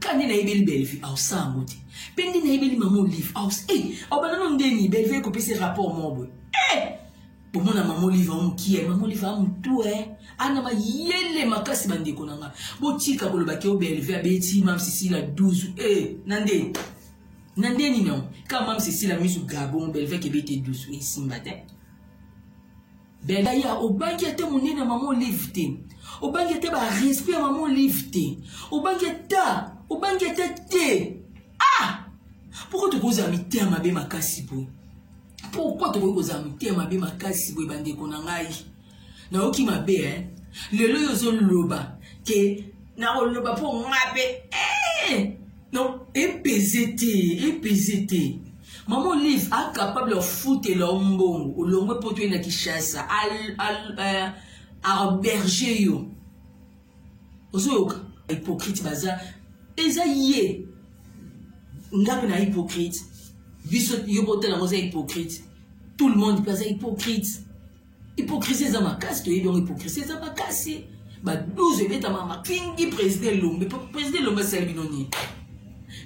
ka nde nayebeli bellevue aosala yango te mpe nde nayebeli mama olive aus e eh, aobanda no ndeni bellevue ekopesi rapport moko boye e eh, bomona mama olive ao mokie mama olive a motu e eh. ana mayele makasi bandeko na nga botika koloba ke o bellevue abeti mam sisila 12 e na nde na ndeni nango kaka mam sisila misu gabon bellevue kebete 12 esimba te Bella ya obangi ata monene ya mama olive te obangi ata barespect ya mama olive te obangi ata obangi ata te ah pourkoi tokozala mitema mabe makasi boye pourkoi tokoki kozala mitema mabe makasi boye bandeko na ngai nayoki mabe eh? lelo oyo ozoloba ke nakoloba mpo nga mpe eh! Non, epeze te, epeze te. Maman Olive a capable of futela yo mbongo, olongwe mpo toyenda Kinshasa, al, al, euh, aberge yo. Ozoyoka? Hypocrite baza, eza ye. Nga mpe na hypocrite. Biso yo botala yango oza hypocrite. Tout le monde mpe aza hypocrite. Hypocrisie eza makasi toyebi yango hypocrisie eza makasi ba 12 ebetama makingi président elombe président elombe asali bino nini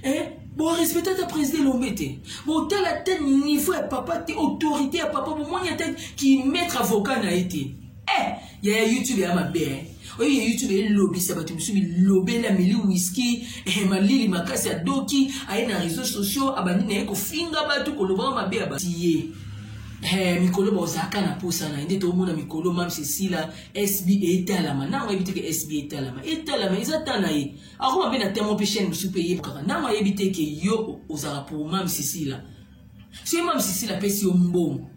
eh? borespecte ata président elombe te botala te niveau ya papa te autorité ya papa bomoni ata kimetre avocat na ye te eh, yaya youtube ya mabe eh? oyo ya youtube elobisa bato mosusu bilobela meli wiski eh, malili makasi adoki aye na réseau sociaux abandi na ye kofinga bato kolobaka mabe ya batiye eh, mikolo baozalaka na mposa na ye nde toomona mikolo mams esila sb etalama ntango ayebi te ke sb etalama etalama eza ta na ye akoma mpe na temo mpe chaine mosusu mpe eyebkaka ntango ayebi te ke yo ozalaka pour mams esila soki mams esila apesi yo mbongo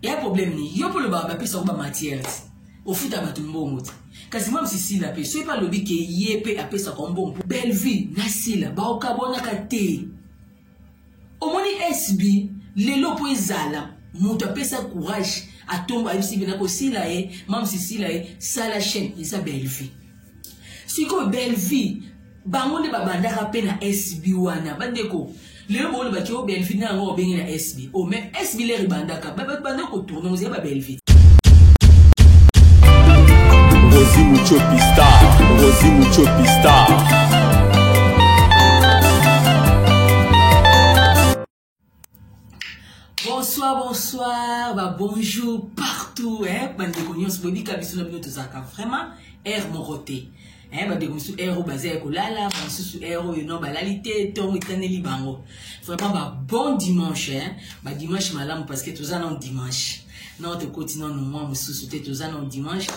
ya problème ni yo mpe olobaka bapesa yango bamatières ofuta bato mbongo te kasi mwa msi sila mpe soki mpe alobi ke ye mpe apesaka yo mbongo mpo bellevue na sila baokabwanaka te omoni sb lelo mpo ezala moto apesa courage atombo ayebisi bina kosila ye mamsi sila ye sala chaine eza bellevue sikoyo bellevie bango nde babandaka mpe na sb wana bandeko lelo booni baki o bellevie na yango obenge na sb o oh, me sb lere ebandaka babanda kotourne ozali ba bellevie rosi muchopi star rosi muchopi star bonsoir bonsoir ba bonjour partout eh, bandeko nyonso boyebika biso na bino tozalaka vraiment aire moko te eh, bandeko mosusu aire oyo baza ya kolala bamosusu aire oyo no balali te ntongo etaneli bango vraiment ba bon dimanche eh, ba dimanche malamu parce que toza nano dimanche nao tokoti nano mwa mosusu te toza nano dimanche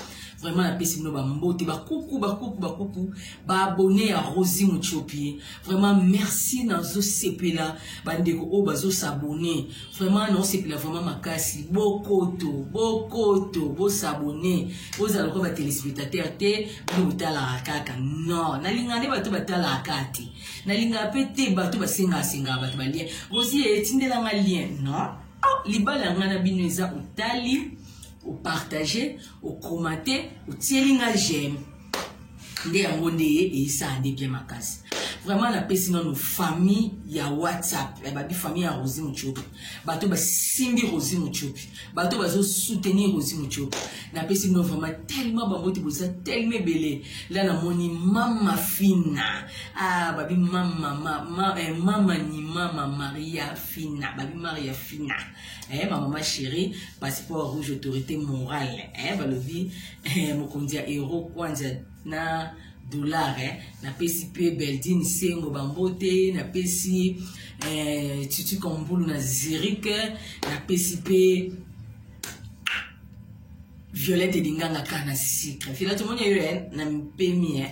vraiment napesi bino bambote bakuku bakuku bakuku baabone ya rosi motiopi vraiment merci nazosepela bandeko oyo bazosabone vraiment naosepela vraiment makasi bokoto bokoto bosabone bozala lokola batelespectateur te bino botalaka kaka non nalingaka nde bato batalaka kaka te nalingaka mpe te bato basengaasengaka bato balien osi etindelanga lien non oh, libala ya ngai na bino eza otali o partager o commenter otieli nga j'aime nde yango nde eyesaka nde bien makasi vraiment napesi nano famille ya whatsapp ya babi famille ya rosi mutiopi bato basimbi rosi mutiopi bato bazosoutenir rosi mutiopi napesi bino vraiment tellement bango te boza tellement ebele la namoni mama fina ah, babi mama, mama, eh, mama ni mama maria fina babi maria fina eh, ma mama chérie passeport rouge autorité morale eh, balobi eh, mokonzi ya euro kwanza na dollar eh, napesi mpe beldine sengo bambote napesi eh, tutu kambulu na zurike napesi mpe Violette Dinganga kaka na sucre. Violette moni yo eh, na mpemi eh.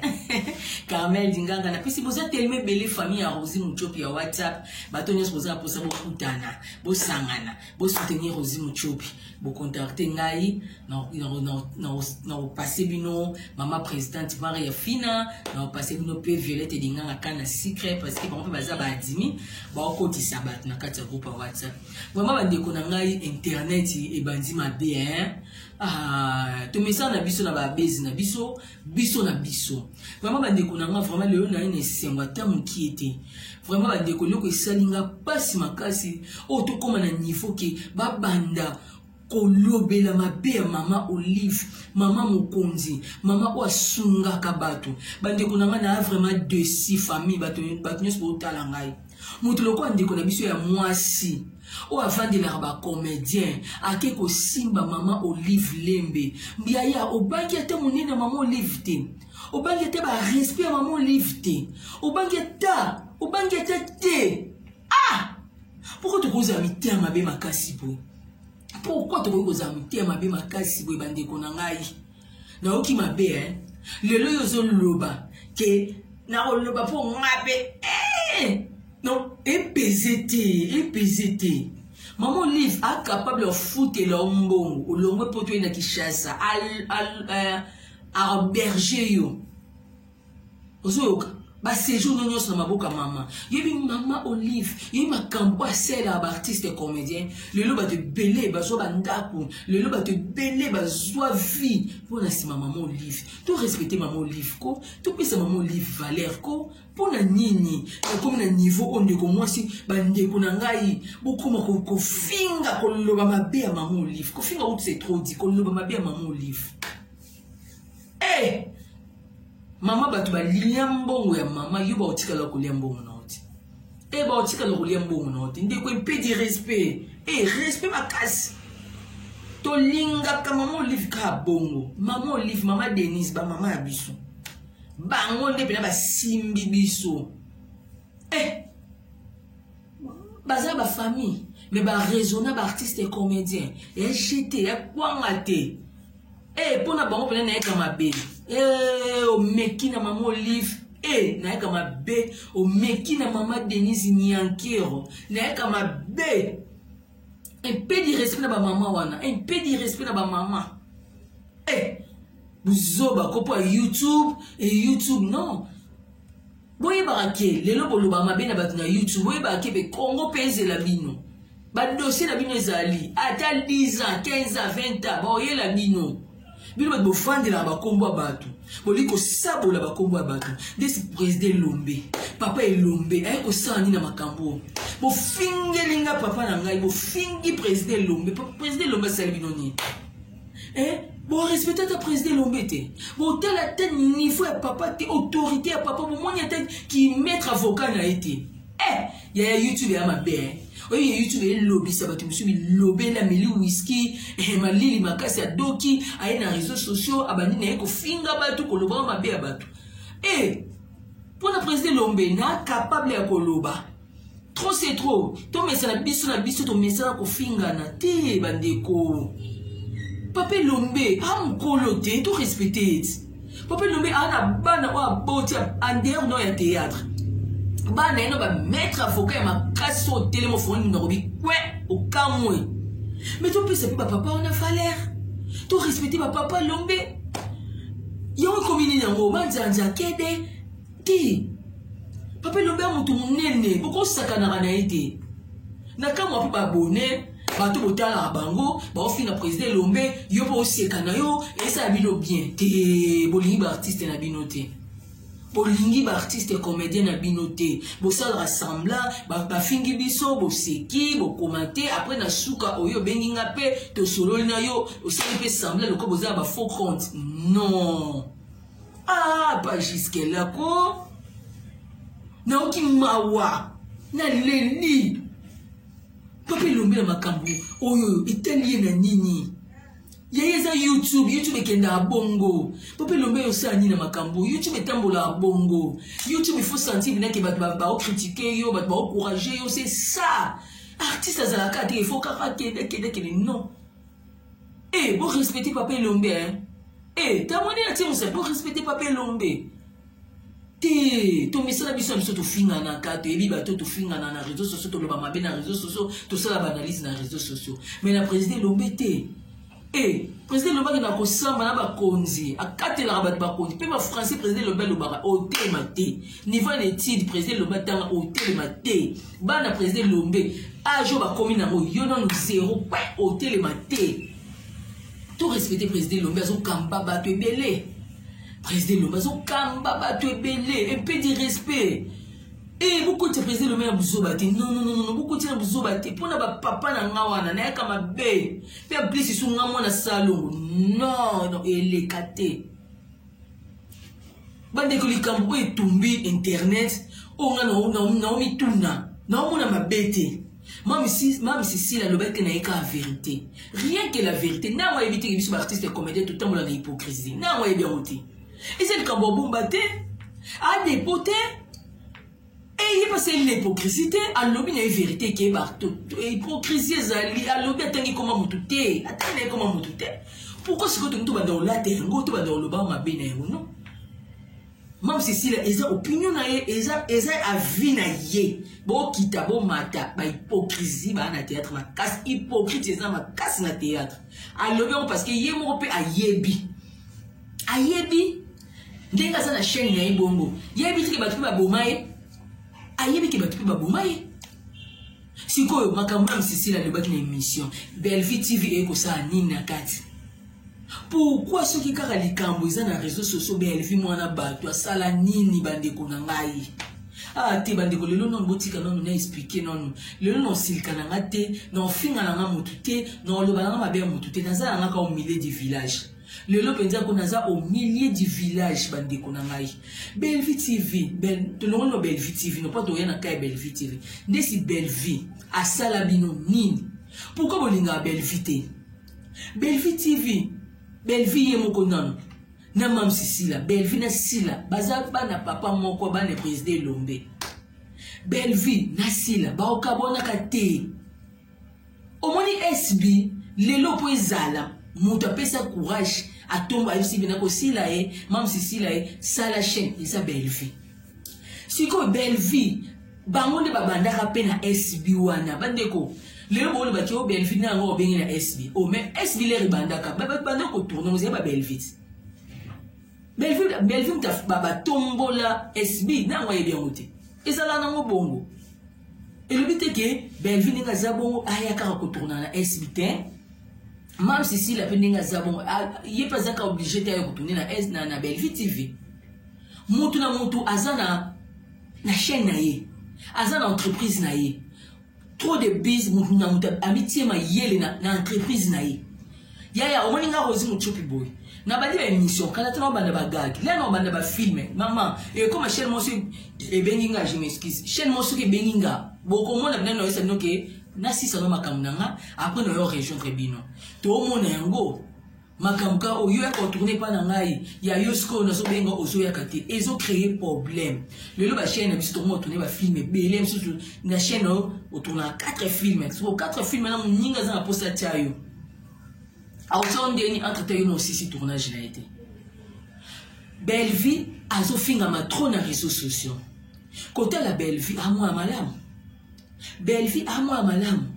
Carmel Dinganga na pesi boza tellement ebele famille ya Rosie Muchopi ya WhatsApp. Bato nyonso boza posa bokutana, bosangana, bosoutenir Rosie Muchopi. Bocontacte ngai na na na na na passer bino mama présidente Maria Fina, na passer bino pe Violette Dinganga kaka na sucre parce que bango pe baza ba adimi, ba okotisa bato na kati ya groupe WhatsApp. Vraiment ba ndeko na ngai internet ebandi mabe hein. Ah, tomesana na biso na ba base na biso, biso na biso. Vraiment ba ndeko na ngai vraiment lelo na ina esengo ata mukie te. Vraiment ba ndeko loko esali nga pasi makasi. Oh tokoma na niveau ke ba banda kolobela mabe ya mama olive mama mokonzi mama oyo asungaka bato bandeko na ngai naa vraiment desi famille bato nyonso bootala ngai moto lokola ndeko na biso ya mwasi oyo avandelaka bacomédien ake kosimba mama olive lembe yaya obangi ata monene mama olive te obangi ata barespect ya mama olive te obangi ata obangi ata te ah pourkoi tokozala mitema mabe makasi boye pourkui tokoki kozala motema mabe makasi boye bandeko na ngai nayoki mabe eh? lelo oyo ozoloba ke nakoloba mpo ngai mpe eh! non epeze te epeze te mama olive acapable ya ofutela yo mbongo olongwe mpo toyei na kinshasa aberge yo ozoyoka basejour no nyonso na maboko ya mama yebi mama olive yebi makambo oyo asala ya baartiste comédien lelo bato ebele bazwa bandako lelo bato ebele bazwa vie mpo na nsima mama olive to respecte mama olive ko topesa mama olive valeur ko mpo na nini nakomi na niveau oyo ndeko mwasi bandeko na ngai bokoma kofinga koloba mabe ya mama olive kofinga utu se trop di koloba mabe ya mama olive hey! Eh! mama bato balia mbongo ya mama yo baotikala kolia mbongo na yo te e baotikala kolia mbongo na yo te ndeko mpe di respect e eh, respect makasi tolingaka mama olive kaka bongo mama olive mama denise bamama ya biso bango nde mpena basimbi biso eh baza ba famille mais ba raisonna ba artiste et comédien ya jete ya kwanga te e mpo na bango mpena nayeka mabe e omeki na mama olive e nayeka mabe omeki na mama denise niankero nayeka mabe mpe direspect na bamama wana mpe direspect na bamama e buzoba kopo ya youtube e youtube non boyebaka ke lelo boloba mabe na bato na youtube boyebaka ke be congo mpe ezela bino badosie na bino ezali ata 10 ans 15 ans 20 ans baoyela bino bino bato bofandelaka bakombo ya bato bolingi kosabola bakombo ya bato ndesi president elombe papa elombe aye kosala nini na makambo oyo bofingeli nga papa na ngai bofingi president elombe president elombe asali bino nini eh? borespecte ata président elombe te botala ata niveau ya papa te autorité ya papa bomoni ata kimetre avocat na ye te eh, yaya youtube ya mabe eh. oyebi ya youtube elobisa bato mosusu bilobela meli wiski eh, malili makasi adoki aye na réseau sociaux abandi na ye kofinga bato kolobaka mabe ya bato e eh, mpo na président elombe na capable ya koloba trop c'est trop tomesana biso na biso tomesana kofingana te bandeko papa elombe a mokolo te to respecte ye ti papa elombe aa na bana oyo aboti andeer no ya théâtre bana ye no bamaître avocat ya makasi oyo telema ofongoli minoko bikwe okamwe me topesa mpe bapapa wana valeur to respecte bapapa elombe yango ekomi nini yango manzanza kede te papa elombe ya moto monene bokosakanaka na ye te na kamwa mpe babone bato botalaka bango baofinga président elombe yo mpe oseka na yo esala bino bien te bolingi baartiste na bino te bolingi baartiste comédien na bino te bosalaka sembla bafingi ba biso boseki bokoma te après na suka oyo obengi nga mpe tosololi na yo osali mpe sembla lokola boza na bafaux compte non ah ba jusque là ko naoki mawa na leli papa elombe na makambo oyo etali ye na nini ye eza youtube youtube ekendaka bongo po mpe lombe osala nini na makambo youtube etambolaka bongo youtube ifo sentir nake bato baokritike yo bato baokourage yo se ça artiste azalaka te ifo kaka kende kende kende non Eh, bo respecter papa Elombe hein. Eh, tamoni na timu bo respecter papa Elombe. te tomisala biso ya biso tofinganaka toyebi bato tofingana na réseau sociaux toloba mabe na réseau sociaux tosala baanalyse na réseau sociaux mais na président elombe te e président elombe akenda kosamba na bakonzi akatelaka bato bakonzi mpe bafrançais président elombe alobaka otema te niveau ya na etide président elombe atanga otelema te bana président elombe age oyo bakomi nango yo nano zero pe otelema te to respecte président elombe azokamba bato ebele président elombe azokamba bato ebele epe di respect e bokotisa président elombe na buzoba te nononono bokotisa na buzoba te mpo na bapapa na nga wana nayaka mabe mpe ablisisu nga mwana salongo non non eleka te bandeko likambo oyo etumbi internet oyo nga naomituna naomona mabe te mame sisile alobaki te naye kaka verité rien que la verité ntango ayebi teke biso baartiste comédien totambola na hypocrisie ntango ayebi yango te eza likambo abomba te adepo te Et il pas c'est l'hypocrisie te alobi na vérité ke ba hypocrisie ezali alobi atangi koma mutu te atangi na koma mutu te pourquoi sikoyo tomi tobanda olata yango tobanda oloba mabe na yango non mame cecilia eza opinion na ye eza eza avis na ye bokita bomata bahypocrisie baa na théâtre makasi hypocrite eza makasi na théâtre alobi yango parce que ye moko mpe ayebi ayebi ndenge aza na chaîne na ye bongo yebi tike bato mpe baboma ye ayebi ke bato mpe baboma ye sikoyo makambo ya msisila alobaki na émission bellevue tv eye kosala nini na kati pourkui soki kaka likambo eza na réseau sociaux bellevue mwana bato asala nini bandeko na ngai ah te bandeko lelo nano botika nano na explike nano lelo naosilika na nga te naofinga na nga motu te naoloba na nga mabe ya motu te naza na nga ka omile du village lelo mpenza ko naza au milieu du village bandeko na ngai bellevie tv bel, tolongoli no bellevie tv nopo toya na kai bellevie tv ndesi bellevie asala bino nini pourkui bolingaka bellevie te bellevie tv bellevie ye moko nano na mamsi sila bellevie na sila baza bana papa moko bana president elombe bellevie na sila baokabwanaka te omoni sb lelo mpo ezala moto apesa courage atombo ayebisi bina kosila ye mamsi sila ye sala chaine eza bellevue sikoyo bellevue bango nde babandaka mpe na sb wana bandeko lelo bolobaki o bellevue na yango obenge na sb o mais sb lere ebandaka banda kotourne ozali ba bellevue bellevue moto batombola sb na yango ayebi yango te ezala nango bongo elobi te ke bellevue ndenge aza bongo aya kaka kotourna na esb te mam sisila mpe ndenge aza bongo ye mpe azaka oblige te ayo kotourne na es na, na bellevue tv motu na motu aza na na chaîne na ye aza na entreprise na ye trop de bise motu na motu amitie mayele na, na entreprise na ye yaya omoni nga rosi mocupi boye nabandi ba émission kala tana obanda bagage lena obanda bafilme mama ekoma chaine mo soki ebengi nga je m'excuse chaine mo soki ebengi nga bokomona bina noyesa bino ke nasisano makambo na nga apres nayo rejoindre bino toomona yango makambo ka oyo yaka otourne epai na ngai ya yo sikoyo nazobenga ozoyaka te ezo créer problème lelo bachaine na biso tokomi otourne bafilme ebele mosusu na chaine oyo otournaka 4 filme sikoyo 4 filme na moninga aza na mposa atya yo aozo ndeni entre temps yo mosisi tournage na ye te bellevie azofingama trop na réseau sociaux kotala bellevie amwa malamu bellevie amwa malamu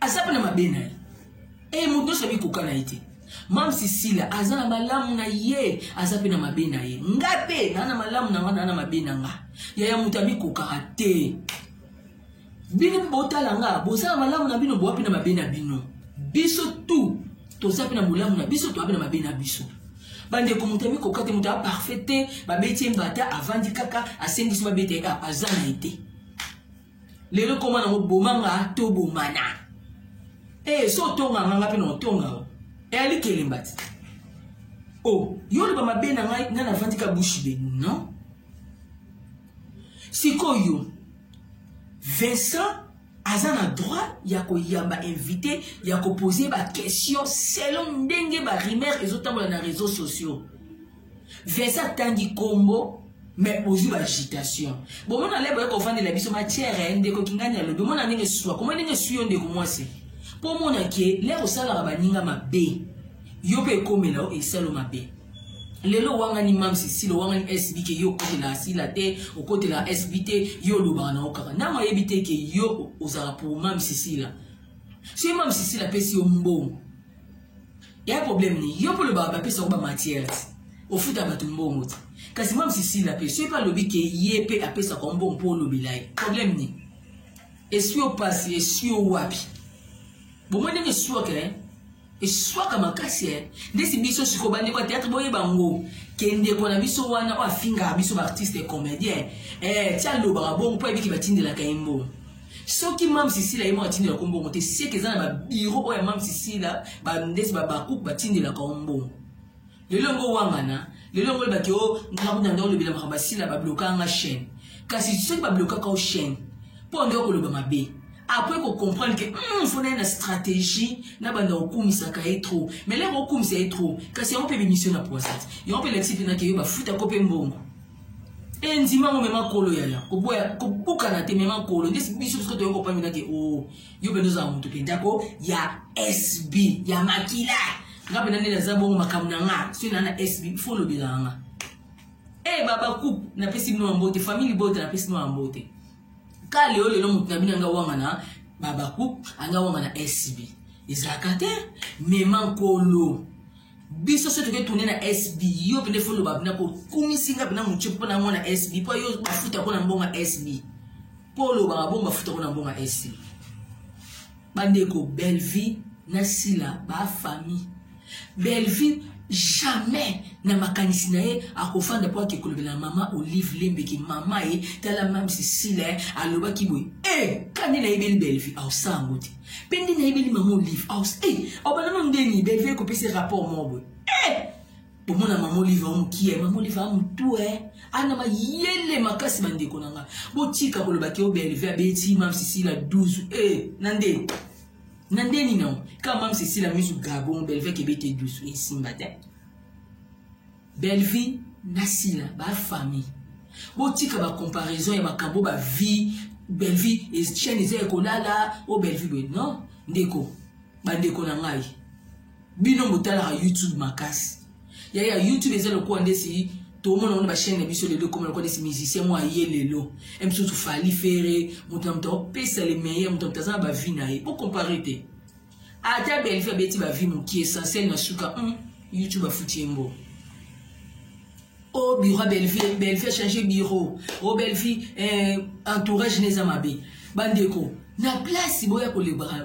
aza mpe na mabe na ye e eh, moto nyonso abikoka na ye te mam sisila aza na malamu na ye aza mpe na mabe na ye nga mpe naa na malamu na nga naa na mabe na nga yaya moto amikokaka te bino botala nga bozala malamu na bino bowapi na mabe na bino biso tu toza mpe na bolamu na biso towapi na mabe na biso bandeko moto ya mikoka te moto ya parfait te babeti ye mbata avandi kaka asengisi babeta ye kaka aza na ye te lelo koma nango boma nga to bomana ee eh, so otonga nga nga mpe na otonga o eyali eh, kelemba te o oh, yo oloba mabe na ngai ngai navandi ka bushi de non sikoyo Vincent aza na droit ya koyamba invité ya kopose baquestion selon ndenge barimere ezotambola na réseau sociaux vincent atangi nkombo me bozwi baagitation bomona lebo ye kovandela biso matière eh, ndeko kingani alobi omona ndenge swa komona ndenge swi yo ndeko mwasi mpo omona ke lere osalaka baninga mabe yo mpe ekomela yo esalo mabe lelo owangani mam cecile owangani sb ke yo okotela asila te okotela sb te yo olobaka na yo kaka ntango ayebi te ke yo ozala pour mam cecile soki mam cecile apesi yo mbongo ya problème ni yo mpo olobaka bapesa yo bamatière ti ofuta bato mbongo ti kasi mam cecile ape soki mpe alobi ke ye mpe apesaka mbongo mpo olobela ye problème ni eswi opasi eswi owapi bomoni ndenge eswi okele eswaka makasi eh. ndesi biso siko bandeko ya théâtre boyeba ngo ke ndeko na biso wana oyo afingaka biso baartiste ya comédien eh, ti alobaka bongo mpo ayebiki batindelaka ye mbongo soki mam sisila ye moko atindelaka yo mbongo te seke eza na babiro oyo ya mam sisila bandesi babakuku batindelaka yo mbongo lelo yango owangana lelo yango olobaki o oh, ngai kuna nde olobela makambo asila bablokaka nga chaîne kasi soki bablokaka o chaîne mpo nde okoloba mabe apres kocomprendre ke hmm, fona ye na stratégie na banda okumisaka ye trop mais lere okumisa ye trop kasi yango mpe bemission na poisate yango mpe elakisi mpe nake yo bafutako mpe mbongo endima ngo mema kolo yaya kobukana te mema kolo nde biso biso toyokopambi nake o oh, yo mpenza ozala moto mpenza ko ya sb ya makila nga mpenza nde naza bongo makambo na nga soki naa na sb fo olobelaka nga e eh, baba coupe napesi bino ya mbote famille libota napesi bino ya mbote ka leo lelo moto na bino anga wanga na baba coupe anga wanga na sb ezalaka te mema nkolo biso so toke tourne na sb yo pende fo loba pena kokumisi nga pena moce mpo na mwana sb mpo yo bafuta mpo na mbonga sb mpo olobaka bongo bafuta mpo na mbonga sb bandeko bellevie na sila bafamille bellevie jamais na makanisi na ye akofanda mpo ake kolobela mama olive lembeki mama ye tala mamsi sila alobaki boye e eh, kani nayebeli bellevie aosala yango te mpe nde nayebeli mama olive aus e eh, obalama ndeni belvie ekopesi rapport moko boye e eh! omona mama olive ao mokie mama olive a motu e eh? ana mayele makasi bandeko na ngai botika koloba ke o belvie abeti mam sisila 12 e na nde na nde nini yango kaka mam sisila misu gabon belvie kebete 12 esimba te Bellevue na Sila ba famille. Botika ba comparaison ya makambo ba vie Bellevue et chaîne eza ekolala o oh, Bellevue boye non ndeko ba ndeko na ngai. Bino botalaka YouTube makasi. Ya ya YouTube eza lokola ndesi tomona ngo na bachaine na biso lelo ekoma lokola neti musicien moko aye lelo e mosusu fali fere moto na moto akopesa le meilleur moto na moto aza na bavi na ye bocompare te ata belvi abeti ba vie mokie essentiel na suka mm, youtube afuti ye mbo o oh, bureau belvi belvi achange bureau o oh, belvi eh, entourage neza mabe bandeko na place boya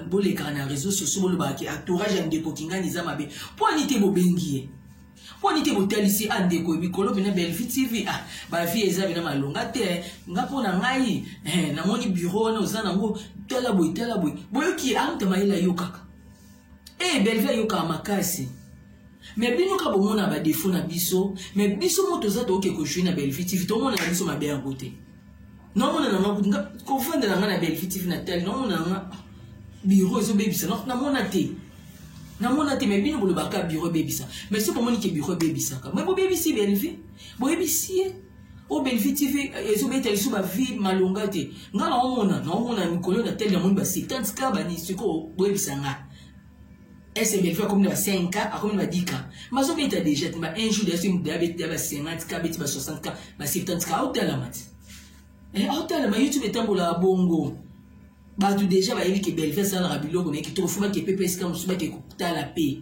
bolekaka na réseau sociaux bolobaka ke entourage ya ndeko kingani eza mabe mpo ani te bobengi ye mpo nini te botalisi a ah, ndeko ya mikolo mena belvi tv ah bavi eza bena malonga te eh. nga mpo na ngai eh, namoni biro wana oza nango tala boye tala boye boyoki ye amta ah, mayele ayokaka e belvi ayokaka makasi me bino ka bomona badefo na biso me biso mo toza toyoki ekojui na belvi tv tomona na biso mabe yango te namonana nga kofandela nga na bellevue tv na tali namonana nga biro ezobebisa namona te namona te mai bino bolobaka biro ebebisa mai soki omoni ke biro ebebisaka mai bobebisi belvi boyebisi ye o belvi tv eh, ezobeta lisu bavie malonga te nga naomona naomona mikolo na tele namoni ba 50 ka bani sikoyo boyebisa nga SMF akomi na 5 k akomi na 10 k bazobeta deja te ba un jour deja soki moto ya beti ya ba 50 k abeti ba 60 k ba 70 k aotalama te eh, aotalama youtube etambolaka bongo bato deja bayebi ke belve asalaka biloko na ye kitoko fo bake pepe esika mosusu bake kotala mpe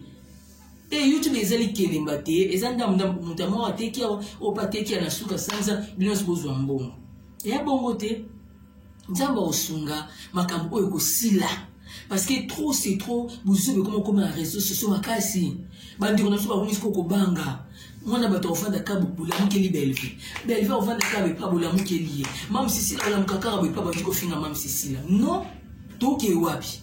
te eh, youtube ezali kelemba te eza ndambo ndambo moto yango ateki awa oyo mpe ateki ya na suka sanza bino nyonso bozwa mbongo eya bongo te nzambe akosunga makambo oyo ekosila parce que trop c'est trop bozuba ekoma okoma na réseau socio makasi bandeko na biso bakomi siko kobanga mwana bato akofanda ka bolamukeli belve belve akofanda ka bepa bolamukeli ye mam sisila olamuka kaka boepa bandi kofinga mam sisila non toke wapi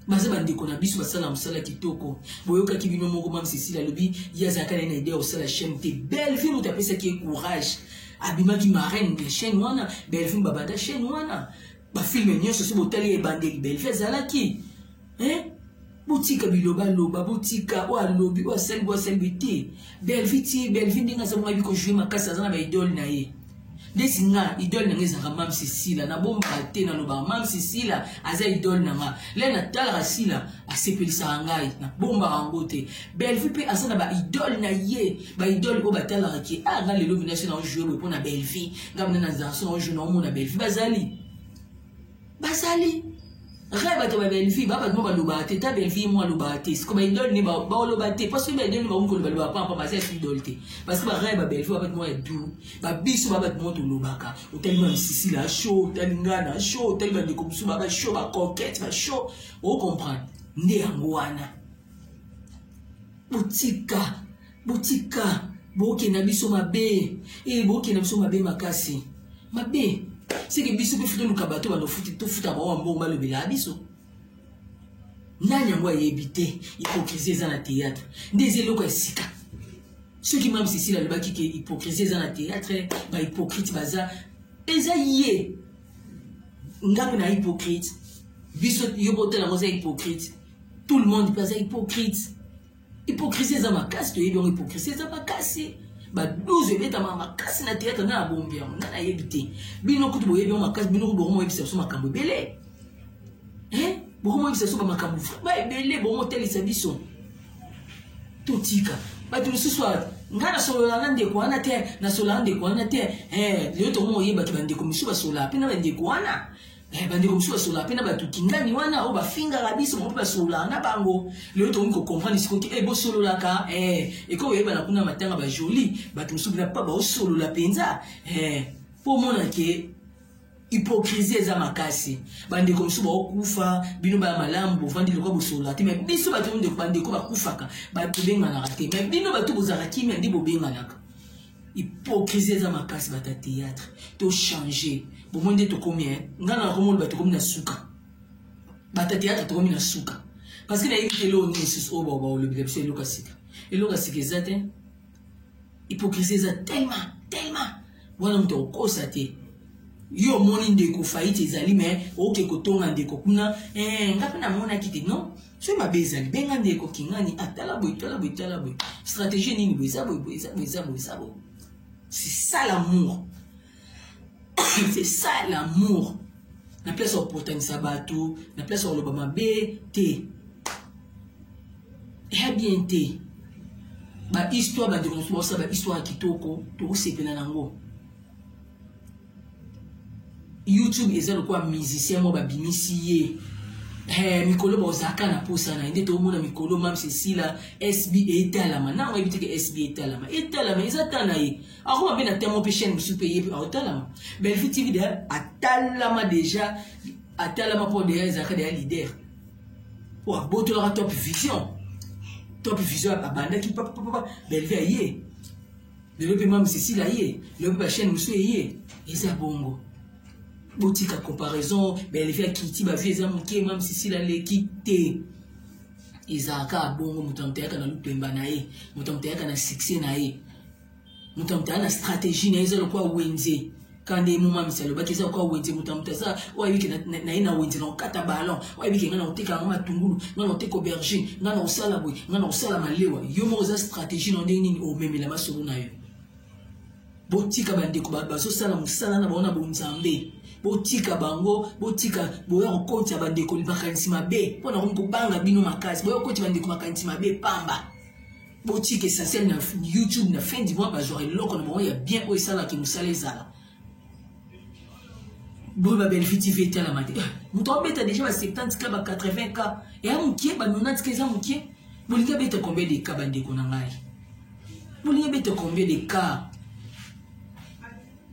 baza bandeko na biso basala mosala kitoko boyokaki bino moko mame cecilia alobi ye azalaka naye na idea ya kosala chaine te bellevue moto apesaki ye courage abimaki marraine ya chaine wana bellevue babanda chaine wana bafilme nyonso so botali ebandeli bellevue azalaki eh? botika bilobaloba botika oyo alobi oyo asali boyo asali boye te bellevue ti bellevue ndenge aza mongabi kojoue makasi aza na baidole na ye ndeti nga idole na nga ezalaka mamsi sila nabombaka te nalobaka mamsi sila aza idole na nga le natalaka sila asepelisaka ngai nabombaka yango te bellevue mpe aza na baidole na ye baidole oyo batalaka ke a ah, nga lelo vinasi na ojoue boye mpo na bellevue nga mina na zanso na ojoue na omona bellevue bazali bazali rai bato ba bellevue ba bato mo balobaka te ta bellevue mo alobaka te siko baidole ne baoloba te parce que baidole ne bakomi koloba loba pampa baza ya idole te parce que barai ba bellevue ba bato mo ya duru babiso ba bato mo tolobaka otali ba misisi na show otali nga na show otali bandeko mosusu ba bashow bacoquete bashow ocomprendre nde yango wana botika botika boke na biso mabe e boke na biso mabe makasi mabe seke biso mpe toluka bato banofuti tofuta bango bambongo balobela biso nani yango ayebi te hypocrisie eza na théâtre nde eza eloko ya sika soki mame cécile alobaki ke hypocrisie eza na théâtre bahypocrite baza eza ye nga mpe na hypocrite biso yo botala yango eza hypocrite tout le monde mpe aza hypocrite Hypocrisie eza makasi toyebi yango hypocrisie eza makasi ba 12 ebetama makasi na théâtre na abombi yango ngai nayebi te bino kutu boyebi yango makasi bino kutu bokomoyebisa biso makambo ebele eh? bokomoyebisa biso bamakambo ba ebele bokomotalisa biso totika bato mosusu ngai nasolola na ndeko wana te nasolola na ndeko wana te eh, lelo tokomoyeba te bandeko mosusu basololaka mpe na bandeko wana Eh, bandeko mosusu basololaka mpe na bato kingani wana oyo bafingaka biso bango mpe basololaka na bango lelo tokomi kokomprendre sikoyo te e bosololaka eh, ekoki koyebana kuna matanga bajoli bato mosusu mpena mpa baosolola mpenza eh, mpo omona ke hypocrisie eza makasi bandeko mosusu baokufa bino baya malamu bovandi lokola bosolola te mai biso bato bandeko bakufaka bato benganaka te mai bino bato bozalaka kimia nde bobenganaka hypocrisie eza makasi bato ya théâtre to change bomoi nde tokomi e ngai na nakomona bato tokomi na suka bato ya théâtre tokomi na suka parce que nayebi te eloko nini lisusu oyo oh, baolobela biso eloko ya sika eloko ya sika eza te hypocrisie eza tellement tellement wana moto akokosa te yo omoni ndeko faillite ezali me oke kotonga ndeko kuna eh, nga mpe namonaki te non soki mabe ezali benga ndeko kingani atala ah, boye tala boye tala boye stratégie nini boye eza boye boye eza boye eza boye eza boye c'est ça l'amour c'est ça l'amour na place ya kopotanisa bato na place ya koloba mabe te eya bien te bahistoire bandeko mosusu baosala bahistoire ya kitoko tokosepela na yango youtube eza lokola musicien moko babimisi ye eh, mikolo bozalaka na mposa na ye nde toomona mikolo mam cecilia sb etalama nanga oyebi teke sb etalama etalama eza ta na ye akoma mpe na temo mpe chaine mosusu mpe ye mpe aotalama belfi tv deya atalama deja atalama mpo deya ezalaka deya leader mpo abotolaka top vision top vision abandaki papapapa belvi aye lelo mpe mame cecile aye lelo mpe bachaine mosusu eye eza bongo botika comparaison baeleve ya kiti bavie eza moke mame cecile aleki te ezalaka kaka bongo moto ya moto ayaka na lupemba na ye moto ya moto ayaka na succès na ye moto ya moto aya na stratégie na ye eza lokola wenze kanda ye momamisi alobaki eza lokola wenze moto na moto aza oyo ayebi ke na ye na wenze na kokata ballon oyo ayebi ke ngai na koteka yango matungulu ngai na koteka aubergine ngai na kosala boye ngai na kosala malewa yo moko oza stratégie na ndenge nini omemela masolo na yo botika bandeko bazosala mosala na bango na bonzambe botika bango botika boya kokotisa bandeko makanisi mabe mpo na komi kobanga bino makasi boya kokotisa bandeko makanisi mabe pamba botika essentiel na youtube na fin du mois bazwaka eloko na bango ya bien oyo esalaka ke mosala ezala boye babelfi tv etalama te eh, moto abeta deja ba 70 ka ba 80 ka eya mokie ba 90 ka eza mokie bolingi abeta combien de ka bandeko na ngai bolingi abeta combien de ka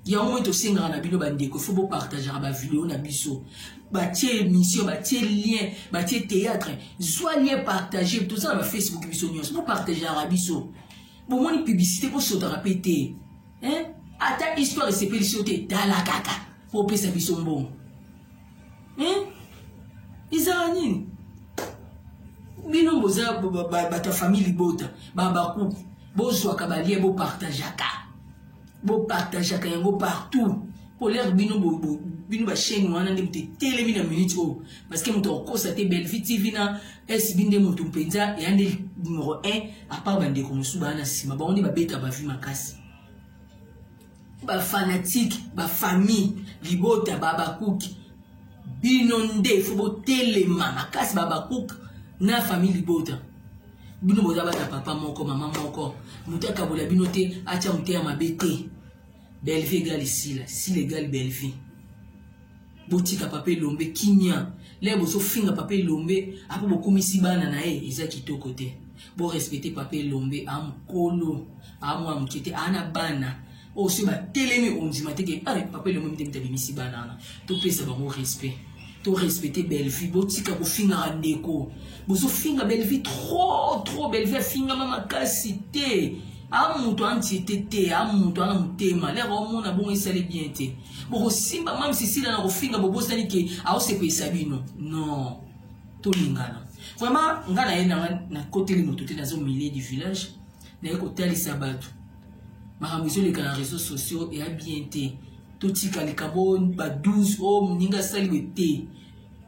yango moi tosengaka na bino bandeko fo bopartagaka bavideo na biso batie émission batie lien batie théâtre zwa lien partage toza na bafacebook biso nyonso bopartageaka biso bomoni publicité bosotaka mpe te ata histoire esepelisi yo te tala kaka mpo opesa biso mbongo ezala nini bino boza bato ya famille libota babakuku bozwaka balie bopartageaka bopartageaka yango partout mpo lere bino bino bachaine wana nde moto etelemi na minute oyo parceke moto akokosa te belvi tv na sb nde moto mpenza ya nde numero 1 apart bandeko mosusu baa na nsima bango nde babeta bavi makasi bafanatike bafamille libota babakuki bino nde fo botelema makasi babakuki na famille libota bino boza bana papa moko mama moko moto akabola bino te atya moteya mabe te bellevie egali sila sila egali bellevie botika papa elombe kimia lere bozofinga papa elombe apo bokumisi bana na ye eza kitoko te borespecte papa elombe amokolo amwa moke te ana bana oyo soki batelemi okondima te ke ah, papa elongo mite mite abimisi bana wana topesa bango respect torespecte bellevue botika kofingaka ndeko bozofinga bellevue trop trop bellevue afingama makasi te a moto antiete te a moto ana motema lere omona bongo esali bien te bokosimba mame sisila na kofinga bobosani ke aosepelisa bino non tolingana vraiment ngai naye nanga nakoteli moto te nazo milieu du village naye kotalisa bato makambo ezoleka na réseau sociaux eya bien te totika likambo ba 12 o oh, moninga asali boye te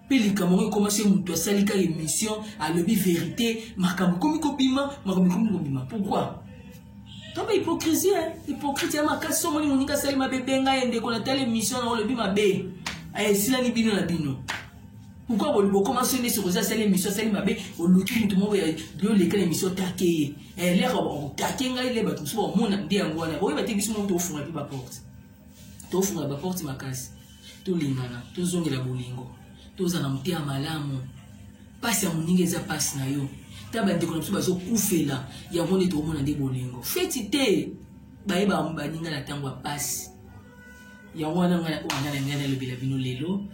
mpe likambo yango ekoma se moto asali kaka émission alobi vérité makambo ekomi kobima makambo ekomi kobima pourquoi toba hypocrisie hypocrite ya makasi so omoni moninga asali mabe benga ye ndeko natala émission na olobi mabe eh, esilani bino na bino pourquoi bokoma so nesi okoza asali émission asali mabe oluki moto moko yoleka na émission take ye eleko eh, bakokake ngai le bato mosusu bakomona nde yango wana boyeba te biso moko tofunga mpe baporte tofunga baporte makasi tolingana tozongela bolingo toza na motema malamu mpasi ya moninga eza mpasi na yo ta bandeko na biso bazokufela yango nde tokomona nde bolingo feti te bayeba baninga na ntango ya mpasi yango wana ngai na ngai nalobela bino lelo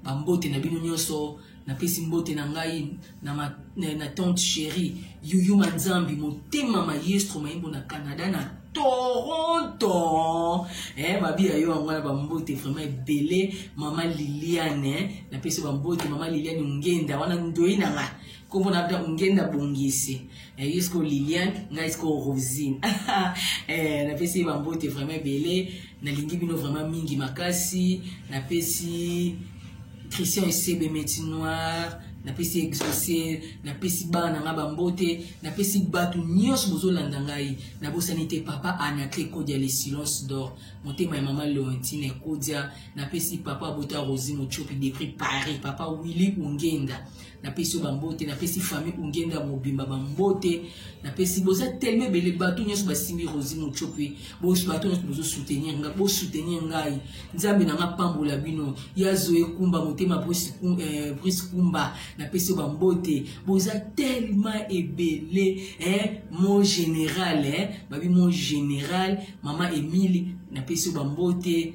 bambote na bino nyonso napesi mbote na ngai na, ma, na, na tante chérie yuyu manzambi motema maestro mayimbo na canada na toronto eh, mabi ya yo yango wana bambote vraiment ebele mama liliane eh. napesi bambote mama liliane ngenda wana ndoi na nga nkombo na bda ngenda bongisi eh, ye siko liliane ngai siko rosine eh, napesi bambote vraiment ebele nalingi bino vraiment mingi makasi napesi christian esebe meti noir napesi exauce napesi bana na ngai bambote napesi bato nyonso bozolanda ngai nabosani te papa anacle kodia le silence d'or motema ya mama leontine kodia napesi papa bota rosi mochopi depri paris papa willi ongenda napesi yo bambote napesi famille ungenda mobimba bambote napesi boza teleme ebele bato nyonso basimbi rosi mocope bato nyonso bozosoutenir ngai bosoutenir ngai nzambe na ngai apambola bino ya zoe kumba motema brise eh, kumba napesi yo bambote boza telema ebele eh, mon général eh, babi mon général mama emile napesi yo bambote